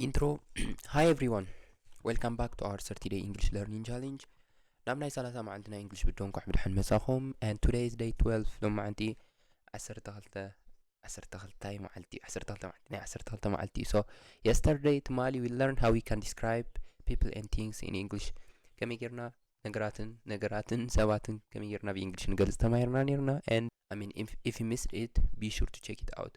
ኢንትሮ ሃይ ኤቭሪዋን ዌልካም ባክ ቱ ኣወር ሰርቲ ደይ ኢንግሊሽ ለርኒንግ ቻሌንጅ ናብ ናይ ሰላሳ መዓልቲ ናይ እንግሊሽ ብዶ እንኳዕ ብድሐን መጻኹም ን ቱደይ ስ ደይ 12 ሎ መዓንቲ ዓሰርተ ክልተ ዓሰርተ ክልታይ መዓልቲ ዩ ዓሰርተ ክልተ መዓልቲ ናይ ዓሰርተ ክልተ መዓልቲ ዩ ሶ የስተርደይ ትማሊ ዊ ለርን ሃው ዊ ካን ዲስክራይብ ፒፕል ን ቲንግስ ኢን ኢንግሊሽ ከመይ ጌርና ነገራትን ነገራትን ሰባትን ከመይ ጌርና ብኢንግሊሽ ንገልጽ ተማሂርና ኔርና ን ኣሚን ኢፍ ዩ ሚስድ ኢት ቢ ሹር ቱ ቸክ ኢት ኣውት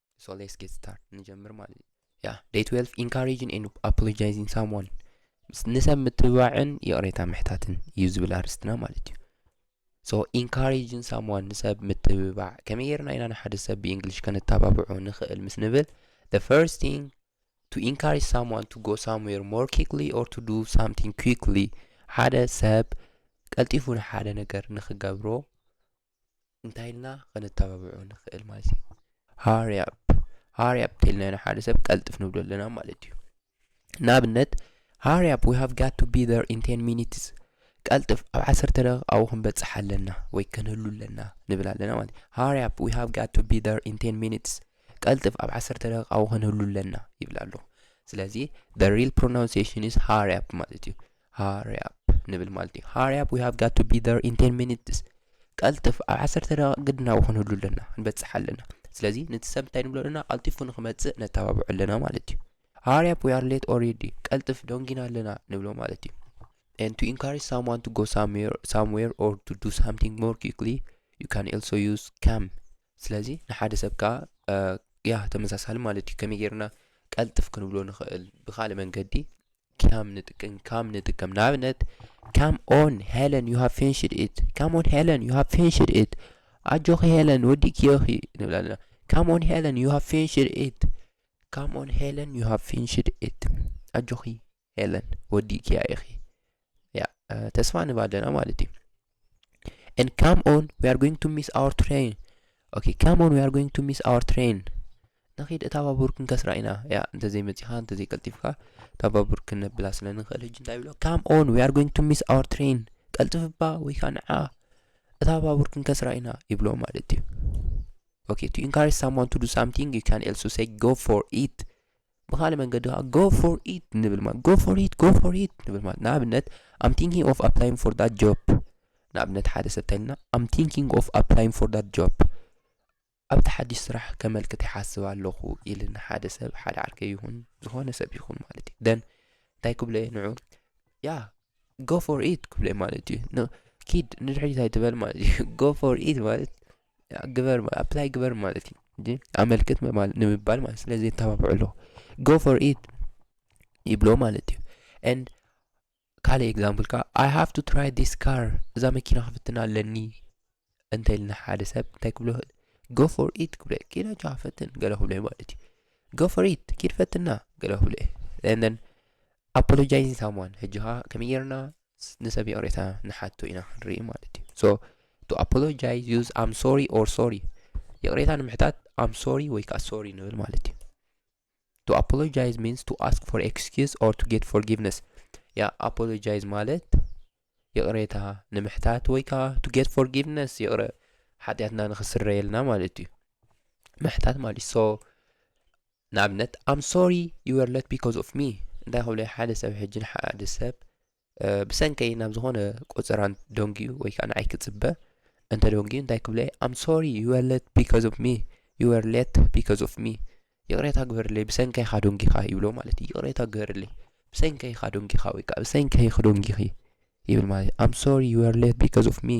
ሶ ሌትስ ጌት ስታርት ንጀምር ማለት እዩ ያ ደይ 12 ኢንካሬጅን ኤን ኣፖሎጃይዝን ሳምዋን ንሰብ ምትብባዕን ይቕሬታ ምሕታትን እዩ ዝብል ኣርስትና ማለት እዩ ሶ ኢንካሬጅን ሳምዋን ንሰብ ምትብባዕ ከመይ ጌርና ኢና ንሓደ ሰብ ብእንግሊሽ ከነተባብዖ ንኽእል ምስ ንብል the first thing to encourage someone to go somewhere more quickly or to do something quickly ሓደ ሰብ ቀልጢፉ ንሓደ ነገር ንኽገብሮ እንታይ ኢልና ከነተባብዖ ንኽእል ማለት እዩ ሃሪ ኣፕ ሃሪ ኣፕ እንተኢልና ኢና ሓደ ሰብ ቀልጥፍ ንብሎ ኣለና ማለት እዩ ንኣብነት ሃሪ ኣፕ ዊ ሃቭ ጋት ቱ ቢ ዘር ኢን ቴን ሚኒትስ ቀልጥፍ ኣብ ዓሰርተ ደቂቕ ኣብኡ ክንበፅሕ ኣለና ወይ ከንህሉ ኣለና ንብል ኣለና ማለት እዩ ሃሪ ኣፕ ዊ ሃቭ ጋት ቱ ቢ ዘር ኢን ቴን ሚኒትስ ቀልጥፍ ኣብ ዓሰርተ ደቂቕ ኣብኡ ክንህሉ ኣለና ይብል ኣለኹ ስለዚ ዘ ሪል ፕሮናንሴሽን ኢዝ ሃሪ ኣፕ ማለት እዩ ሃሪ ኣፕ ንብል ማለት እዩ ሃሪ ኣፕ ዊ ሃቭ ጋት ቱ ቢ ር ኢን ቴን ሚኒትስ ቀልጥፍ ኣብ ዓሰርተ ደቂቕ ግድና ክንህሉ ኣለና ክንበፅሕ ኣለና ስለዚ ነቲ ሰብ እንታይ ንብሎ ኣለና ቀልጢፉ ንክመፅእ ነተባብዑ ኣለና ማለት እዩ ሃሪ ኣፕ ዊ ኣር ሌት ኦሬዲ ቀልጥፍ ደንጊና ኣለና ንብሎ ማለት እዩ and to encourage someone to go somewhere somewhere or to do something more quickly you can also use come ስለዚ ንሓደ ሰብ ከኣ ያ ተመሳሳሊ ማለት እዩ ከመይ ጌርና ቀልጥፍ ክንብሎ ንኽእል ብካልእ መንገዲ ከም ንጥቀም ከም ንጥቀም ንኣብነት ካም ኦን ሄለን ዩ ሃብ ፊንሽድ ኢት ካም ኦን ሄለን ዩ ሃብ ፊንሽድ ኢት ኣጆኺ ሄለን ወዲእክዮኺ ንብል ኣለና ካም ኦን ሄለን ዩ ሃብ ፊንሽድ ኢት ካም ኦን ሄለን ዩ ሃብ ፊንሽድ ኢት ኣጆኺ ሄለን ወዲእክያ ኢኺ ያ ተስፋ ንብ ኣለና ማለት እዩ and come on we are going to miss our train okay come on we are going to miss our train ንኺድ እታ ባቡር ክንከስራ ኢና ያ እንተዘይመፂኻ እንተዘይቀልጢፍካ እታ ባቡር ክነብላ ስለ ንኽእል ሕጂ እንታይ ብሎ ካም ኦን ዊ ኣር ጎይንግ ቱ ሚስ ኣወር ትሬን ቀልጥፍባ ወይ ከዓ ንዓ እታ ባቡር ክንከስራ ኢና ይብሎ ማለት እዩ ኦኬ ቱ ኢንካሬጅ ሳምዋን ቱ ዱ ሳምቲንግ ዩ ካን ኤልሶ ሰይ ጎ ፎር ኢት ብካልእ መንገዲ ከዓ ጎ ፎር ኢት ንብል ማለት ጎ ፎር ኢት ጎ ፎር ኢት ንብል ማለት ንኣብነት ኣም ቲንኪንግ ኦፍ ኣፕላይንግ ፎር ዳት ጆብ ንኣብነት ሓደ ሰብ እንተልና ኣም ቲንኪንግ ኦፍ ኣፕላይንግ ፎር ዳት ጆብ ኣብቲ ሓድሽ ስራሕ ከመልክት ይሓስብ ኣለኹ ኢልን ሓደ ሰብ ሓደ ዓርከ ይኹን ዝኾነ ሰብ ይኹን ማለት እዩ ደን እንታይ ክብሎ እየ ንዑ ያ ጎ ፎር ኢት ክብሎ ማለት እዩ ኪድ ንድሕሪት ኣይትበል ማለት እዩ ጎ ፎር ኢት ማለት ግበር ኣፕላይ ግበር ማለት እዩ እንጂ ኣመልክት ምባል- ንምባል ማለት ስለዚ የተባብዑ ኣለዎ ጎ ፎር ኢት ይብሎ ማለት እዩ ኤንድ ካልእ ኤግዛምፕል ከዓ ኣይ ሃቭ ቱ ትራይ ዲስ ካር እዛ መኪና ክፍትና ኣለኒ እንተልና ሓደ ሰብ እንታይ ክብሎ ይኽእል ጎ ፎር ኢት ክብሎ እዩ ኪድ ኣጆኻ ፈትን ገለ ክብሎ እዩ ማለት እዩ ጎ ፎር ኢት ኪድ ፈትና ገለ ክብሎ እዩ ንን ኣፖሎጃይዝ ሳምዋን ሕጂ ከዓ ከመይ ጌርና ንሰብ ይቕሬታ ንሓቶ ኢና ክንርኢ ማለት እዩ ሶ ቱ ኣፖሎጃይዝ ዩዝ ኣም ሶሪ ኦር ሶሪ ይቕሬታ ንምሕታት ኣም ሶሪ ወይ ከዓ ሶሪ ንብል ማለት እዩ ቱ ኣፖሎጃይዝ ሚንስ ቱ ኣስክ ፎር ኤክስኪዝ ኦር ቱ ጌት ፎርጊቭነስ ያ ኣፖሎጃይዝ ማለት ይቕሬታ ንምሕታት ወይ ከዓ ቱ ጌት ፎርጊቭነስ ይቕረ ሓጢኣትና ንክስረየልና ማለት እዩ ምሕታት ማለት ሶ ንኣብነት ኣም ሶሪ ዩ ወር ለት ቢኮዝ ኦፍ ሚ እንታይ ክብለይ ሓደ ሰብ ሕጂ ንሓደ ሰብ ብሰንከይ ናብ ዝኾነ ቆፀራ ደንጊዩ ወይ ከዓ ንዓይ ክፅበ እንተ ደንጊዩ እንታይ ክብለይ ኣም ሶሪ ዩ ወር ለት ቢኮዝ ኦፍ ሚ ዩ ወር ለት ቢኮዝ ኦፍ ሚ ይቕሬታ ግበርለይ ብሰንከይ ኢኻ ደንጊኻ ይብሎ ማለት እዩ ይቕሬታ ግበርለይ ብሰንከይ ኢኻ ደንጊኻ ወይ ከዓ ብሰንከይ ክደንጊኺ ይብል ማለት ኣም ሶሪ ዩ ወር ለት ቢኮዝ ኦፍ ሚ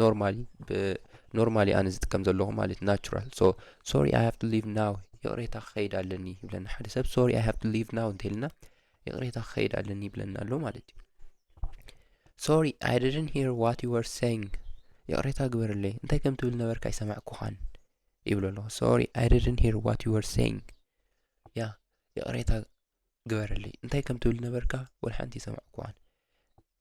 ኖርማሊ ኖርማሊ ኣነ ዝጥቀም ዘለኹ ማለት ናቹራል ሶ ሶሪ ኣይ ሃቭ ቱ ሊቭ ናው ይቕሬታ ክኸይድ ኣለኒ ይብለና ሓደ ሰብ ሶሪ ኣይ ሃቭ ቱ ሊቭ ናው እንተይልና ይቕሬታ ክኸይድ ኣለኒ ይብለና ኣሎ ማለት እዩ ሶሪ ኣይ ድድን ሂር ዋት ዩ ወር ሰይንግ ይቕሬታ ግበርለይ እንታይ ከም ትብል ነበርካ ኣይሰማዕኩኻን ይብሎ ኣለኹ ሶሪ ኣይ ድድን ሂር ዋት ዩ ወር ሰይንግ ያ ይቕሬታ ግበርለይ እንታይ ከም ትብል ነበርካ ወልሓንቲ ይሰማዕኩኻን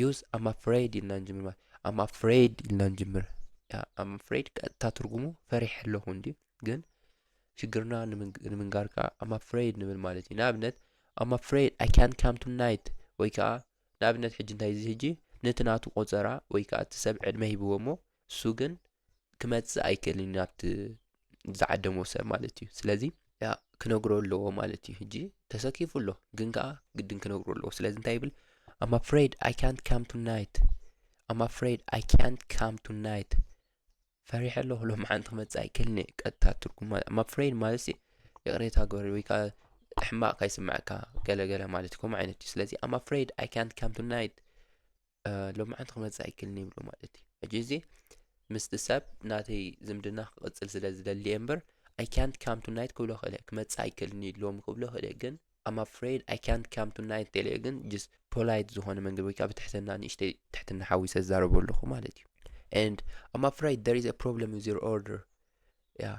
ዩዝ ኣም ኣፍሬድ ኢልና ንጅምር ማለት ኣም ኣፍሬድ ኢልና ንጅምር ኣም ኣፍሬድ ቀጥታ ትርጉሙ ፈሪሕ ኣለኹ እንድዩ ግን ሽግርና ንምንጋር ከዓ ኣም ኣፍሬድ ንብል ማለት እዩ ንኣብነት ኣም ኣፍሬድ ኣይ ካን ካም ቱ ናይት ወይ ከዓ ንኣብነት ሕጂ እንታይ እዚ ሕጂ ነቲ ናቱ ቆፀራ ወይ ከዓ እቲ ሰብ ዕድመ ሂብዎ እሞ እሱ ግን ክመጽእ ኣይክእልን ናብቲ ዝዓደሞ ሰብ ማለት እዩ ስለዚ ክነግሮ ኣለዎ ማለት እዩ ሕጂ ተሰኪፉ ኣሎ ግን ከዓ ግድን ክነግሮ ኣለዎ ስለዚ እንታይ ይብል ኣም ኣፍሬድ ኣይ ካንት ካም ቱ ናይት ኣም ኣፍሬድ ኣይ ካንት ካም ቱ ናይት ፈሪሐ ኣለኹ ሎም ሓንቲ ክመፅእ ኣይክእልን እየ ቀጥታ ትርጉም ማለት ኣም ኣፍሬድ ማለት ይቕሬታ ግበሪ ወይ ከዓ ሕማቕ ካይስምዐካ ገለገለ ማለት እዩ ከምኡ ዓይነት እዩ ስለዚ ኣም ኣፍሬድ ኣይ ካንት ካም ቱ ናይት ሎምዓንቲ ክመፅእ ኣይክልን ይብሎ ማለት እዩ ሕጂ እዚ ምስቲ ሰብ ናተይ ዝምድና ክቕፅል ስለ ዝደሊ እየ እምበር ኣይ ካንት ካም ቱ ናይት ክብሎ ክእለ ክመፅእ ኣይክልን እዩ ሎሚ ክብሎ ክእለ ግን ኣም ኣፍሬድ ኣይ ካንት ካም ቱ ናይት ተለ ግን ጅስ ፖላይት ዝኾነ መንገድ ወይ ከዓ ብትሕትና ንእሽተይ ትሕትና ሓዊሰ ዝዛረቦ ኣለኹ ማለት እዩ and I'm afraid there is a problem with your order yeah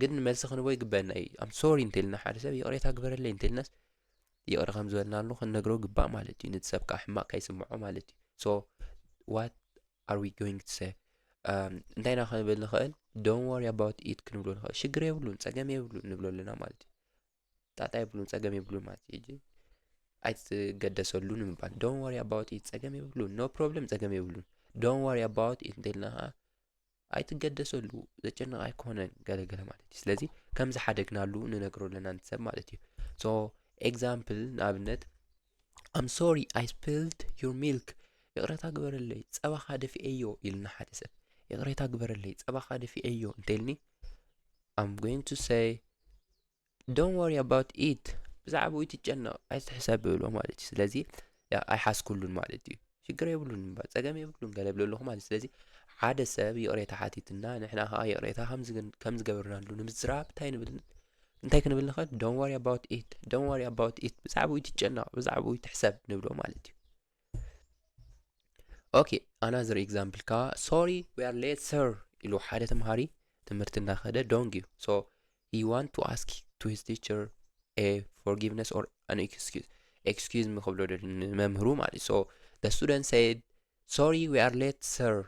ግን መልሲ ክንቦ ይግበአና እዩ ኣም ሶሪ እንተልና ሓደ ሰብ ይቕሬታ ግበረለይ እንተልናስ ይቕረ ከም ዝበልናሉ ክንነግሮ ግባእ ማለት እዩ ነቲ ሰብ ከዓ ሕማቕ ከይስምዖ ማለት እዩ ሶ ዋት ኣር ዊ ጎይንግ ቱ ሰ እንታይ ኢና ክንብል ንኽእል ዶን ወሪ ኣባውት ኢት ክንብሎ ንኽእል ሽግር የብሉን ፀገም የብሉን ንብሎ ኣለና ማለት እዩ ጣጣ የብሉን ፀገም የብሉን ማለት እዩ ጂ ኣይትገደሰሉ ንምባል ዶን ወሪ ኣባውት ኢት ፀገም የብሉን ኖ ፕሮብለም ፀገም የብሉን ዶን ወሪ ኣባውት ኢት እንተልና ከዓ ኣይትገደሰሉ ዘጨንቕ ኣይኮነን ገለገለ ማለት እዩ ስለዚ ከም ዝሓደግናሉ ንነግሮ ኣለና ንሰብ ማለት እዩ ሶ ኤግዛምፕል ንኣብነት ኣም ሶሪ ኣይ ስፒልድ ዩር ሚልክ ይቕረታ ግበረለይ ፀባኻ ደፊኤዮ ኢልና ሓደ ሰብ ይቕሬታ ግበረለይ ፀባኻ ደፊኤዮ እንተይልኒ ኣም ጎይንግ ቱ ሰይ ዶን ወሪ ኣባውት ኢት ብዛዕባኡ ይትጨነቕ ኣይትሕሰብ ብብሎ ማለት እዩ ስለዚ ኣይሓስኩሉን ማለት እዩ ሽግር የብሉን እምበር ፀገም የብሉን ገለ ብሎ ኣለኹ ማለት ስለዚ ሓደ ሰብ ይቕሬታ ሓቲትና ንሕና ከዓ ይቕሬታ ከም ዝገበርናሉ ንምዝራብ እንታይ ንብል እንታይ ክንብል ንኽእል ዶን ወሪ ኣባውት ኢት ዶን ወሪ ኣባውት ኢት ብዛዕባኡ ይትጨነቕ ብዛዕባኡ ይትሕሰብ ንብሎ ማለት እዩ ኦኬ ኣናዘር ኤግዛምፕል ከዓ ሶሪ ዊ ኣር ሌት ሰር ኢሉ ሓደ ተምሃሪ ትምህርቲ እናኸደ ዶንግ እዩ ሶ ሂ ዋንት ቱ ኣስክ ቱ ሂዝ ቲቸር ኤ ፎርጊቭነስ ኦር ኣን ኤክስኪዝ ኤክስኪዝ ሚ ክብሎ ንመምህሩ ማለት እዩ ሶ ደ ስቱደንት ሰይድ ሶሪ ዊ ኣር ሌት ሰር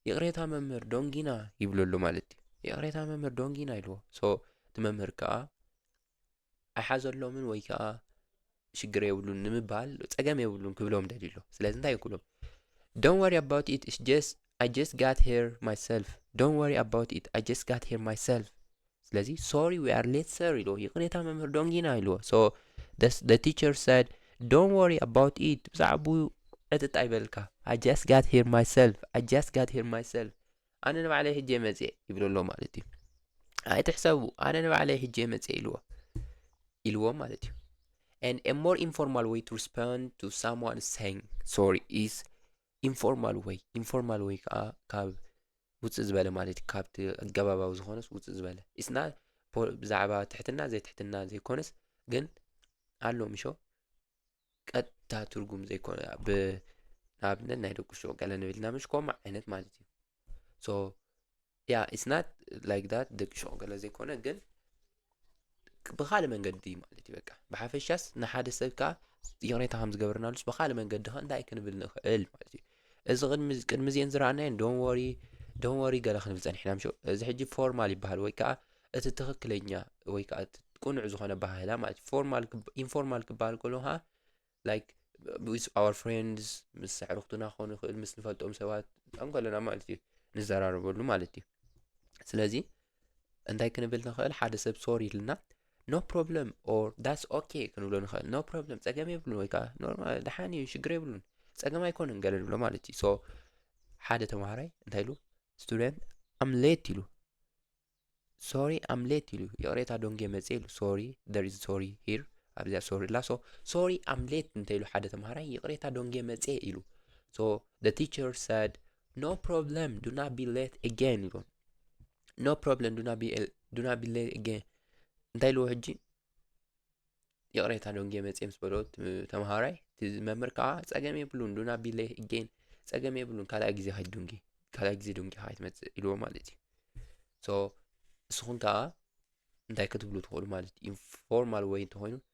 ይቕሬታ መምህር ዶንጊና ይብለሉ ማለት እዩ ይቕሬታ መምህር ዶንጊና ኢልዎ ሶ እቲ መምህር ከዓ ኣይሓዘሎምን ወይ ከዓ ሽግር የብሉን ንምባል ፀገም የብሉን ክብሎም ደልዩ ኣሎ ስለዚ እንታይ ክብሎም ዶን ወሪ ኣባውት ኢት ኢስ ጀስ ኣይ ጀስ ጋት ሄር ማይሰልፍ ዶን ወሪ ኣባውት ኢት ኣይ ጀስ ጋት ሄር ማይሰልፍ ስለዚ ሶሪ ዊ ኣር ሌት ሰር ኢልዎ ይቕሬታ መምህር ዶንጊና ኢልዎ ሶ ደ ቲቸር ሰድ ዶን ወሪ ኣባውት ኢት ብዛዕባኡ ዕጥጥ ኣይበልካ ኣይ ጀስ ጋት ሄር ማይሰልፍ ኣይ ጀስ ጋት ሄር ማይሰልፍ ኣነ ንባዕለይ ሕጄ መጽየ ይብሎ ኣሎ ማለት እዩ ኣይትሕሰቡ ኣነ ንባዕለይ ሕጄ መጽየ ኢልዎ ኢልዎም ማለት እዩ and a more informal way to respond to someone saying sorry is informal way informal way ከዓ ካብ ውፅእ ዝበለ ማለት እዩ ካብቲ ኣገባባዊ ዝኾነስ ውፅእ ዝበለ ኢስና ብዛዕባ ትሕትና ዘይትሕትና ዘይኮነስ ግን ኣሎ ምሾ ቀጥታ ትርጉም ዘይኮነ ብንኣብነት ናይ ደቁ ሾ ገለ ንብልና ምሽ ከምኡ ዓይነት ማለት እዩ ሶ ያ ኢስናት ላይክ ዳት ደቂ ሾ ገለ ዘይኮነ ግን ብካልእ መንገዲ እዩ ማለት እዩ በቃ ብሓፈሻስ ንሓደ ሰብ ከዓ ይቕሬታ ከም ዝገበርናሉስ ብካልእ መንገዲ ከ እንታይ ክንብል ንኽእል ማለት እዩ እዚ ቅድሚ ቅድሚ እዚኤን ዝረኣናየን ዶን ወሪ ዶን ወሪ ገለ ክንብል ጸኒሕና ምሾ እዚ ሕጂ ፎርማል ይበሃል ወይ ከኣ እቲ ትኽክለኛ ወይ ከኣ እቲ ቅኑዕ ዝኾነ ኣበሃህላ ማለት እዩ ፎርማል ኢንፎርማል ክበሃል ከሎ ከኣ ላይክ ዊዝ ኣወር ፍሬንድስ ምስ ኣዕርኽቱና ክኾኑ ይኽእል ምስ ንፈልጦም ሰባት ንከለና ማለት እዩ ንዘራረበሉ ማለት እዩ ስለዚ እንታይ ክንብል ንኽእል ሓደ ሰብ ሶሪ ኢልና ኖ ፕሮብለም ኦር ዳስ ኦኬ ክንብሎ ንኽእል ኖ ፕሮብለም ጸገም የብሉን ወይ ከዓ ኖርማል ደሓን እዩ ሽግር የብሉን ጸገም ኣይኮነን ገለ ንብሎ ማለት እዩ ሶ ሓደ ተምሃራይ እንታይ ኢሉ ስቱደንት ኣም ሌት ኢሉ ሶሪ ኣም ሌት ኢሉ ይቕሬታ ዶንጌ መጽ ኢሉ ሶሪ ደር ኢዝ ሶሪ ሂር ኣብዚኣ ሶሪ ላ ሶ ሶሪ ኣም ሌት እንተ ኢሉ ሓደ ተምሃራይ ይቕሬታ ዶንጌ መጽ ኢሉ ሶ ደ ቲቸር ሰድ No problem, do not be late again ይብሎም no problem do not be do not be late again እንታይ ልዎ ሕጂ ይቕሬታ ዶንጌ መፅየ ምስ በሎ ተምሃራይ መምህር ከዓ ፀገም የብሉን do not be late again ፀገም የብሉን ካልኣይ ግዜ ኸይድ ዶንጌ ካልኣይ ግዜ ዶንጌ ከዓ ትመፅእ ኢልዎ ማለት እዩ ሶ ንስኹም ከዓ እንታይ ክትብሉ ትኽእሉ ማለት እዩ ኢንፎርማል ወይ እንተኾይኑ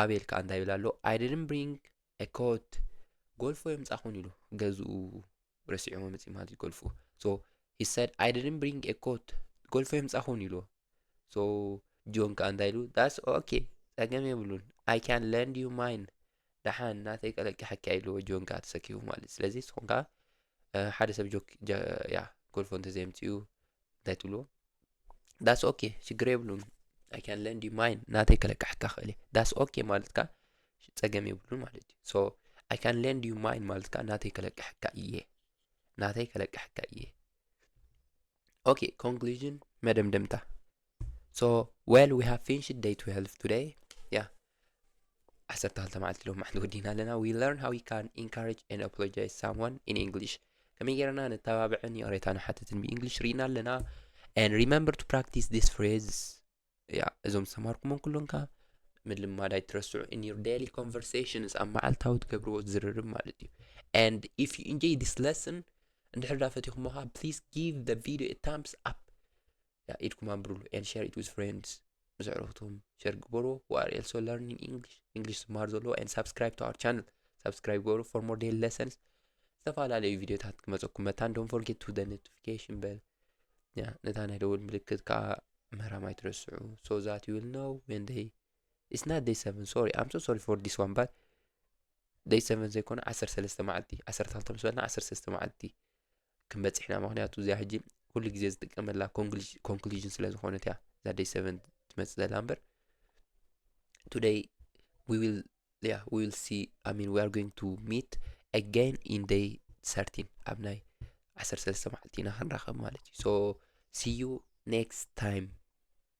ኣቤል ከዓ እንታይ ይብል ኣሎ ኣይ ዲድን ብሪንግ ኮት ጎልፎ የምፃኹን ኢሉ ገዝኡ ረሲዑ መፅኢ ማለት እዩ ጎልፎ ሶ ሂ ሰድ ኣይ ዲድን ብሪንግ ኮት ጎልፎ የምፃኹን ኢሉ ሶ ጆን ከዓ እንታይ ኢሉ ዳስ ኦኬ ፀገም የብሉን ኣይ ካን ለንድ ዩ ማይን ደሓን ናተይ ቀለቂ ሓኪ ኢልዎ ጆን ከዓ ተሰኪፉ ማለት እዩ ስለዚ ንስኹም ከዓ ሓደ ሰብ ጆክ ያ ጎልፎ እንተዘየምፅኡ እንታይ ትብልዎ ዳስ ኦኬ ሽግር የብሉን ኣይካን ለንድ ማይን ናተይ ከለቃሕካ ክእል እየ ዳስ ኦኬ ማለትካ ፀገም የብሉን ማለት እዩ ሶ ኣይካን ለንድ ዩ ማይን ማለትካ ናተይ ከለቃሕካ እየ ናተይ ከለቃሕካ እየ ኦኬ ኮንክሉዥን መደምደምታ ሶ ዌል ዊ ሃቭ ፊንሽድ ደይ 12 ቱደይ ያ ዓሰርተ ክልተ መዓልቲ ሎም ማሕንቲ ወዲና ኣለና ዊ ለርን ሃው ዩ ካን ኢንካሬጅ ን ኣፖሎጃይዝ ሳምዋን ኢን ኢንግሊሽ ከመይ ጌርና ነተባብዕን ይቕሬታ ንሓትትን ብእንግሊሽ ርኢና ኣለና ን ሪመምበር ቱ ፕራክቲስ ዲስ ፍሬዝስ ያ እዞም ዝተማሃርኩሞም ኩሎም ከ ምልማድ ኣይትረስዑ ን ዩር ዳይሊ ኮንቨርሴሽንስ ኣብ መዓልታዊ ትገብርዎ ዝርርብ ማለት እዩ ን ኢፍ ዩ ኢንጆይ ዲስ ለስን እንድሕር ዳ ፈቲኹሞ ከ ፕሊዝ ጊቭ ደ ቪድዮ ታምስ ኣፕ ያ ኢድኩም ኣንብሩሉ ኤንድ ሸር ኢት ዊዝ ፍሬንድስ ምስ ኣዕሩኽትኩም ሸር ግበርዎ ዋር ኤልሶ ለርኒንግ ኢንግሊሽ ኢንግሊሽ ዝመሃር ዘለዎ ኤንድ ሳብስክራይብ ቱ ኣር ቻነል ሳብስክራይብ ግበሩ ፎር ሞር ዴይሊ ለሰንስ ዝተፈላለዩ ቪዲዮታት ክመፀኩም መታን ዶን ፎርጌት ቱ ደ ኖቲፊኬሽን በል ያ ነታ ናይ ደውል ምልክት ከዓ ምህራም ኣይትረስዑ ሶ ዛት ዩ ዊል ነው ዌን ደይ ኢትስ ናት ደይ ሰቨን ሶሪ ኣም ሶ ሶሪ ፎር ዲስ ዋን ባት ደይ ሰቨን ዘይኮነ ዓሰርተ ሰለስተ መዓልቲ ዓሰርተ ክልተ ምስ በልና ዓሰርተ ሰለስተ መዓልቲ ክንበፅሕ ኢና ምክንያቱ እዚኣ ሕጂ ኩሉ ግዜ ዝጥቀመላ ኮንክሉዥን ስለ ዝኾነት እያ እዛ ደይ ሰቨን ትመፅእ ዘላ እምበር ቱደይ ዊል ያ ዊል ሲ ኣይ ሚን ዊኣር ጎይንግ ቱ ሚት ኣጋይን ኢን ደይ ሰርቲን ኣብ ናይ ዓሰርተ ሰለስተ መዓልቲ ኢና ክንራኸብ ማለት እዩ ሶ ሲዩ ኔክስት ታይም